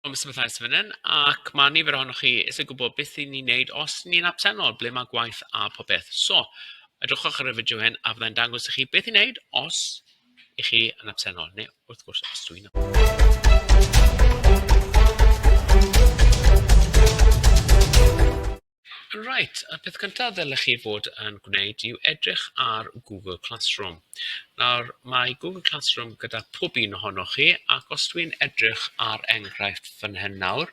Wel, Mister Mathias fan hyn, ac mae nifer ohonoch chi eisiau gwybod beth i ni wneud os ni'n absennol, ble mae gwaith a popeth. So, edrychwch ar y fideo hyn a fyddai'n dangos i chi beth i wneud os i chi yn absennol, neu wrth gwrs os dwi'n nhw. Reit, y peth cyntaf ddylech chi fod yn gwneud yw edrych ar Google Classroom. Nawr, mae Google Classroom gyda pob un ohonoch chi, ac os dwi'n edrych ar enghraifft fan hyn nawr,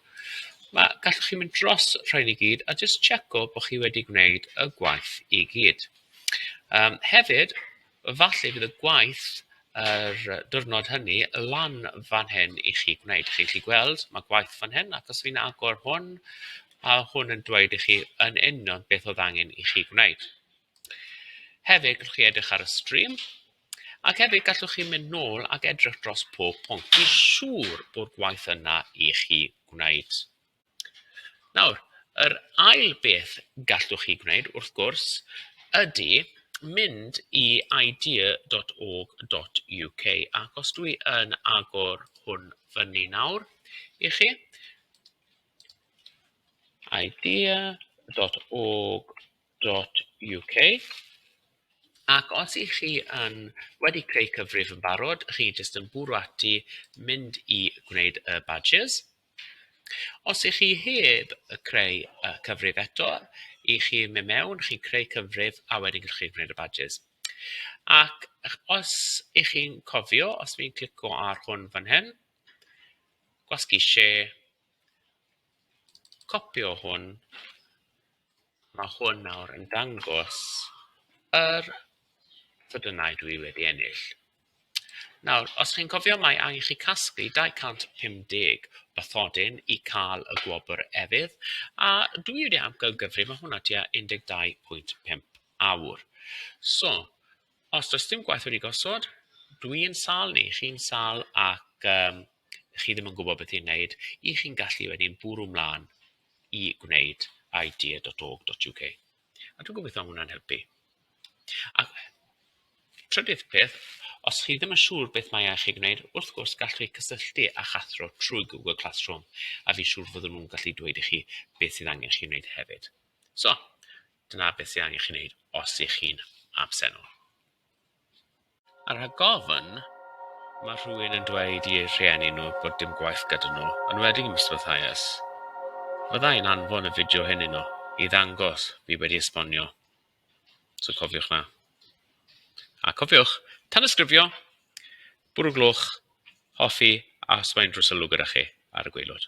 mae, gallwch chi mynd dros rhain i gyd a jyst checo bod chi wedi gwneud y gwaith i gyd. Um, hefyd, Falle bydd y gwaith yr diwrnod hynny lan fan hyn i chi gwneud. Chi'n gallu gweld, mae gwaith fan hyn, ac os fi'n agor hwn, mae hwn yn dweud i chi yn union beth oedd angen i chi gwneud. Hefyd, gallwch chi edrych ar y stream, ac hefyd gallwch chi mynd nôl ac edrych dros pob pwnc. Fi'n siŵr bod gwaith yna i chi gwneud. Nawr, yr ail beth gallwch chi gwneud, wrth gwrs, ydy mynd i idea.org.uk, ac os dwi yn agor hwn fyny nawr i chi, idea.org.uk, ac os i chi yn wedi creu cyfrif yn barod, chi jyst yn bwrw ati mynd i gwneud y badges. Os y'ch chi heb creu cyfrif eto, y'ch chi mynd mewn, chi'n creu cyfrif a wedyn gallwch chi gwneud y badges. Ac os y'ch chi'n cofio, os fi'n clicio ar hwn fan hyn, gwasgu share, copio hwn, mae hwn nawr yn dangos yr offerynnau dwi wedi ennill. Nawr, os chi'n cofio, mae angen i chi casglu 250 bathodyn i cael y gwobr efydd, a dwi wedi amcangyfri, mae hwnna tua 12.5 awr. So, os does dim gwaith wedi gosod, dwi'n sal ni, chi'n sal ac um, chi ddim yn gwybod beth i'n wneud, i chi'n gallu wedyn bwrw mlaen i gwneud idea.org.uk. A dwi'n gobeitho ma' hwnna'n helpu. A trydydd peth, os chi ddim yn siŵr beth mae eich ei gwneud, wrth gwrs gallwch chi cysylltu â'ch athro trwy Google Classroom a fi'n siŵr fydden nhw'n gallu dweud i chi beth sydd angen chi wneud hefyd. So, dyna beth sydd angen chi wneud os ych chi'n absennol. A rhag ofn, mae rhywun yn dweud i eu rhieni nhw bod dim gwaith gyda nhw, yn enwedig ym Mr Mathias. Fydda i'n anfon y fideo hyn yno i ddangos fi wedi esbonio. So cofiwch 'na. A cofiwch, tanysgrifio, bwrw gloch, hoffi a os mae unrhyw sylw gyda chi ar y gwaelod.